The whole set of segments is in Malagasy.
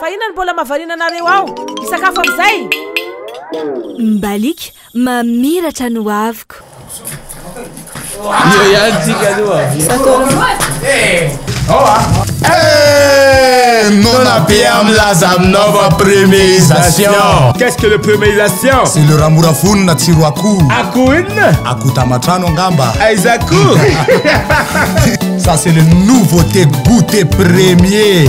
Fa inona no mbola mahavariana anareo ao? Hisakafo amin'izay? Mbaliaka mamiratra ny hoaviko. Io ihany tsika aloha. Eh, nona be amin'ny laza aminao fa premierisation. Qu'est-ce que le premierisation? C'est le ramora vonona tsiro akoho. Akoho inona? Akoho tamatrano angamba. Aiza akoho? Ça c'est le nouveauté goûter premier.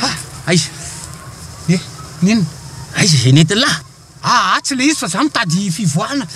Ha! Aiza? He! N'inona? Aiza izay nentiny lahy? Aa tsy le izy fa za mitady fivoahana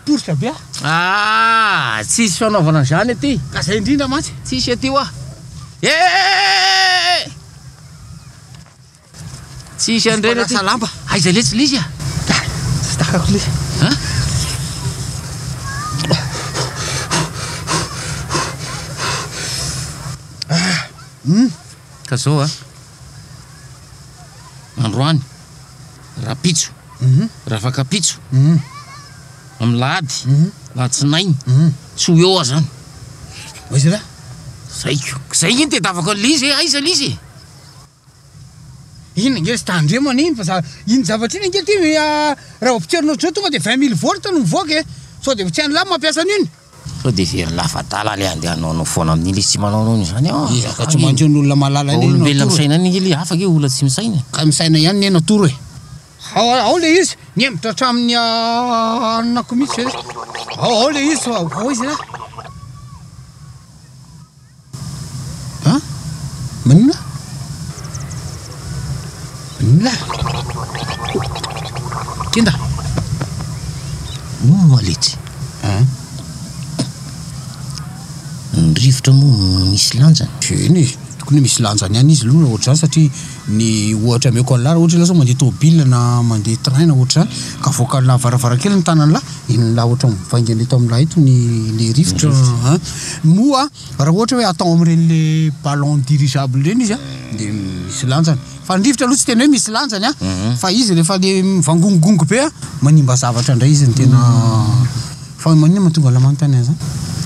poritra be ah. Aa tsisy fanaovana an'izany aty. Ka zay indrindra mantsy. Tsisy aty hoa. Eeeeeee! Tsisy an'ireny aty. Mpanasa lamba. Aiza letsy l'izy ah? Tsy takako le. An? Hum. Ka zao a, androany, rapitso, rafakapitso, amin'ny lahady, latsinainy, tsy ho eo aho zany. Aiza ra? Zay ko. Zay nge nitedavako an'i Lizy e, aiza Lizy e? Iny ange ry tandremo anie iny fa za, iny zavatra iny ange ty raha vao potserina ohatr'izao tonga de vingt mille volt no mivoaka e, sao de tsy an'la mampiasa an'io ny. Sao dia very lafadala ilay andeha hanao anao foana amin'iny ilay izy tsy manao anao an'izany an! Ezaka tsy manjo ny olona malala anie Natoro e! Olombelona misaina ihany ange ilay afaka e, olona tsy misaina e! Ka misaina ihany anie Natoro e! Ao ao ilay izy, nihemotra hatramin'ny anona-ko mihitsy ve? Ao ao ilay izy fa ovao izy ra! An? Maninona? Maninona? Kenda! Moa letsy. An? Ny rivotra moa misy lanjany? Eny e, tokony misy lanjany ihany izy aloha ohatr'izany satria. ny ohatra ameko anlah raha ohatra ianao zao mandeha tômôbila na mandeha train na ohatra izany ka voakalonà varavarankeliny ny tananlah inonlah ohatra ny mivaingana eto aminlah eto ny le rivotra an moa raha ohatra hoe atao amin'ireny le ballon dirigeable ireny izy an dia misy lanjany fa ny rivotra aloha tsy tena hoe misy lanjany an fa izy rehefa le mivangongongongo be an manimba zavatra indray izy ny tena Fa hoy maninona mahatonga anao manontany an'izany?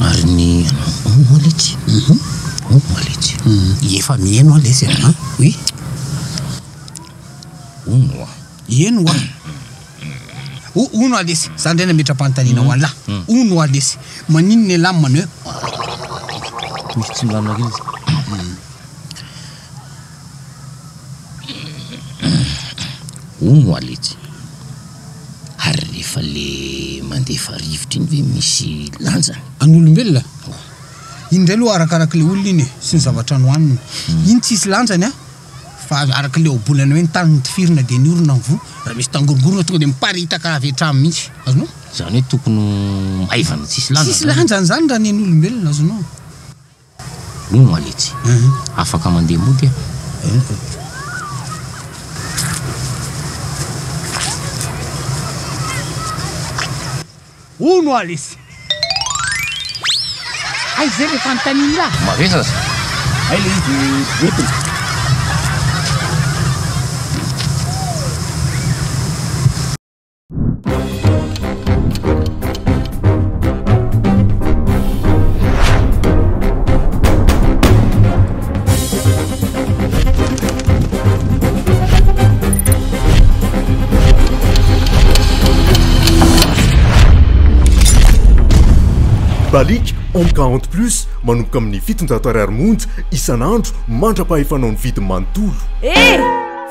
Ary ny anao? Hoy moa letsy? Hoy moa letsy? Ie fa mihaino aho letsy e! Oui? Hoy moa. Hihaino ho aho. Hoy moa letsy, za indray nametram-panontaniana ho an'lah. Hoy moa letsy, maninona ialahy no manao eo? Misy tsy milamina kely izy. Hono oa letsy, ary rehefa le mandefa rivotra iny ve misy lanjany? An'olombelona? Oh. Iny indray aloha arakaraky le olona iny e, sy ny zavatra nohaniny. Iny tsisy lanjany an! Fa araky le ohabolana hoe ny tany notifirina dia ny orona mivoha, raha misy tangorongorona tonga dia miparitaka avy hatrany mihitsy. Azonao? Izany hoe tokony ho maivana tsisy lanjany izany? Tsisy lanjany izany raha ny an'olombelona, azonao? Ny maletsy. Afaka mandeha mody a. Henoko. Hono aletsy. Hay zay le fanontaniany ra. Mavesa aza. Hay le izy de entiny. Balic Home 40 Plus manomboka amin'ny fitonjato ariary monja isan'andro mandra-pahefanao ny vidiny manontolo.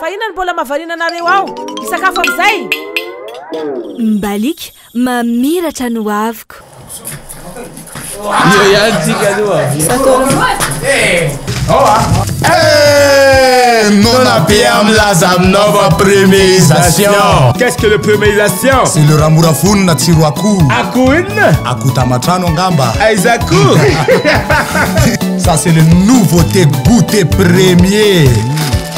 Fa inona no mbola mahavariana anareo ao? Hisakafo amin'izay? Mbaliaka mamiratra ny hoaviko. Io ihany tsika aloha. Eh, nona be amin'ny laza aminao fa premierisation. Qu'est-ce que le premierisation? C'est le ramora vonona tsiro akoho. Akoho inona? Akoho tamatrano angamba. Aiza akoho? Ça c'est le nouveauté goûter premier.